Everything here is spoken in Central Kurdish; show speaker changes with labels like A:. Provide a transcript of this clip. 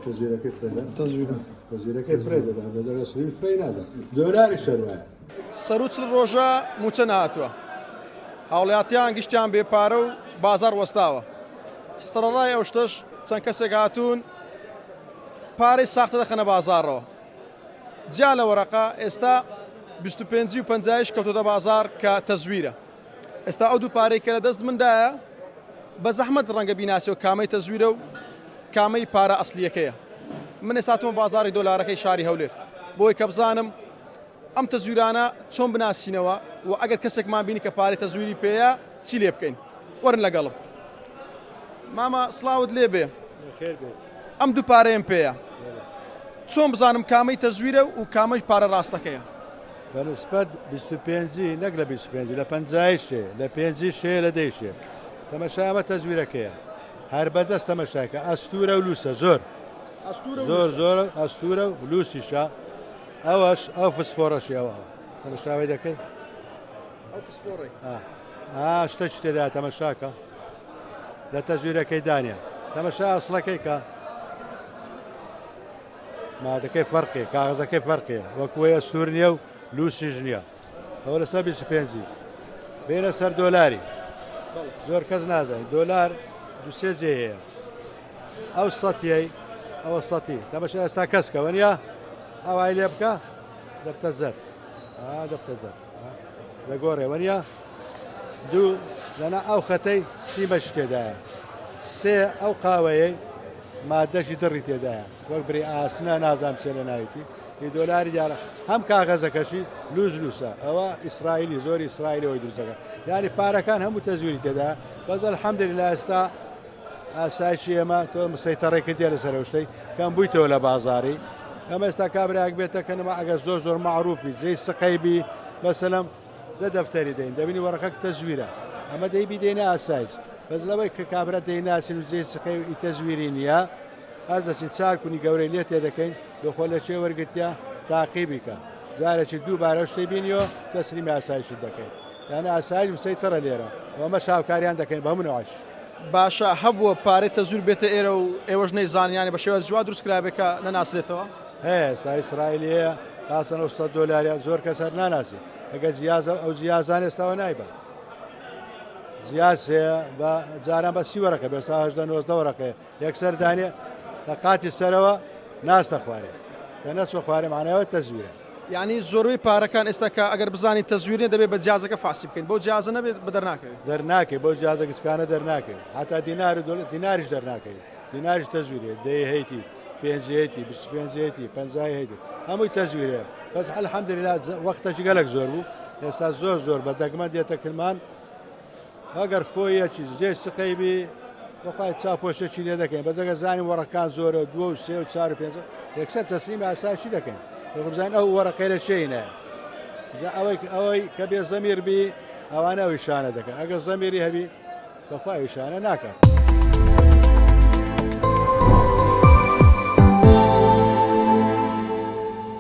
A: تەزویرەکەی فرێدا تەزویرەکەی
B: فرێ دەدا
A: بەدەگە سری فرێ نادا دۆلاری شەروایە سەروچل
C: ڕۆژە موچە نهاتوە هاوڵاتیان گشتیان بێپارە و بازار وەستاوە سەرڕای ئەو شتەش چەند کەسێک هاتوون پارەی ساختە دەخەنە بازارەوە جیا لە وەرەقە ئێستا 25 و پنجایش کەوتۆتە بازار کە تەزویرە ئێستا ئەو دوو پارەی کە لە دەست مندایە بە زەحمەت ڕەنگە بیناسیەوە کامەی تەزویرە و کامەی پارە ئەسلیەکەیە من ئێستا هاتوومە بازاڕی دۆلارەکەی شاری هەولێر بۆی کە بزانم ئەم تەزویرانە چۆن بناسینەوە و ئەگەر کەسێکمان بینی کە پارەی تەزویری پێەیە چی لێ بکەین وەرن لەگەڵم مامە سڵاوت لێ بێ ئەم دوو پارەیەم پێەیە چۆن بزانم کامەی تەزویرە و کامەی پارە ڕاستەکەیە بە نسبەت
A: بیست و پێنجی نەک لە بیست و پێنجی لە پەنجایی شێ لە پێنجی شێ لە دەی شێ تەمەشای ئەمە تەزویرەکەیە هەر بەدەست تەمەشاکە ئەستورە و لووسە زۆر ئەستورە زۆر لوسە. زۆر ئەستورە و لووسیشە ئەوەش ئەو فسفۆڕەشی ئەوە تەمەشاوی دەکەی ئەو پسپۆڕی ئا ئا شتە شتێدا تەمەشاکە لە تەزویرەکەی دانیە تەمەشا ئەسڵەکەی کە مادەکەی فەرقێ کاغزەکەی فەرقێ وەکوی ئەستور نیە و لوسیش نیە ئەوە لەسەر 25 بینە سەر دۆلاری زۆر کەس نازانین دۆلار دوسێ جێ هەیە ئەو سەتیەی ئەوە سەتی دەبش ئێستا کەسکەوە نیە ئەوای لێ بکە دەبتە زەر دەبتە زەر دەگۆڕێ وەریا دوو لەنا ئەو خەتەی سیمەش تێدایە سێ ئەو قاوەیە مادەشی دڕی تێدایە وەک بری ئاسنە نازام چێ لە ناویتی هی دۆلاری دیارە هەم کاغەزەکەشی لوز لوسە ئەوە ئیسرائیلی زۆری ئیسرائیلەوەی دروزەکە یاری پارەکان هەموو تەزویری تێدا بەزل حەمدری لە ئێستا ئاسایشی ئێمە تۆ سەیتەڕێ کردیە لەسەر ئەو شتەی کەم بوویتەوە لە بازاری ئەمە ئێستا کابراک بێتە کەنەوە ئەگەر زۆر زۆر معروفی جێی سقەی بی بەسەلم دە دەفتەری دەین دەبینی وەڕەکە تەزویرە ئەمە دەی بیدەینە ئاسایش بەس لەوەی کە کابرا دەیناسین و جێ سقەی و ئی تەزویری نییە هەر دەچین چار کونی گەورەی لێ تێ دەکەین دۆخۆ لە چێ وەرگتیا تاقی بیکە جارێکی دووبارە شتێ بینیەوە تەسلیمی ئاسایشی دەکەین یانە ئاسایش مسەی تەڕە لێرە وەمە شاوکاریان دەکەین بە منعش باشە
C: هەبووە پارەی تەزویر بێتە ئێرە و ئێوەش نەیزانن یانی بە شێوازی وا دروست کرابێ کە نەناسرێتەوە؟ هەیە ئێستا
A: ئیسرائیلی هەیە تاسە 900 دۆلاریان زۆر کەس هەر ناناسی ئەگە جیازە ئەو جیازان ئێستاوە نایبە جیاز هەیە بە جاران بە سی وەرەکە بێستا هەشدە نۆزدە وەرەکەی یەکسەر دانێ لە قاتی سەرەوە ناستە خوارێ کە نەچوە خوارێ مانایەوە تەزویرە. یانی زۆربەی
C: پارەکان ئێستا کە ئەگەر بزانین تەزویر نیە دەبێت بە جیازەکە فاسی بکەین بۆ جیازە نەبێت بە دەرناکەوێت دەرناکەی بۆ
A: جیازە گچکانە دەرناکەین هەتا دینار و دۆلار دیناریش دەرناکەی دیناریش تەزویرێ دەی هەیتی پێنجەیەتی پێنجەیەتی پەنجای هەیتی هەمووی تەزویرێ بەس الحمدلله وەختەکی گەلک زۆر بوو ئێستا زۆر زۆر بە دەگمەن دێتە کرمان ئەگەر خۆیەکی جێ سقەی بی وەپای چاپۆشێکی لێ دەکەین بەجەگە زانانی وەڕەکان زۆرە دووە و سێ و چار و پێنج یەکسەر تەسلیم ئاساشی دەکەین بزان ئەو وەرەقەیرە شینە ئەوەی ئەوەی کە بێ زەمیر بی ئەوانە ئەوی شانە دەکەن ئەگەر زەمیری هەبی بەخوای شانە ناکات.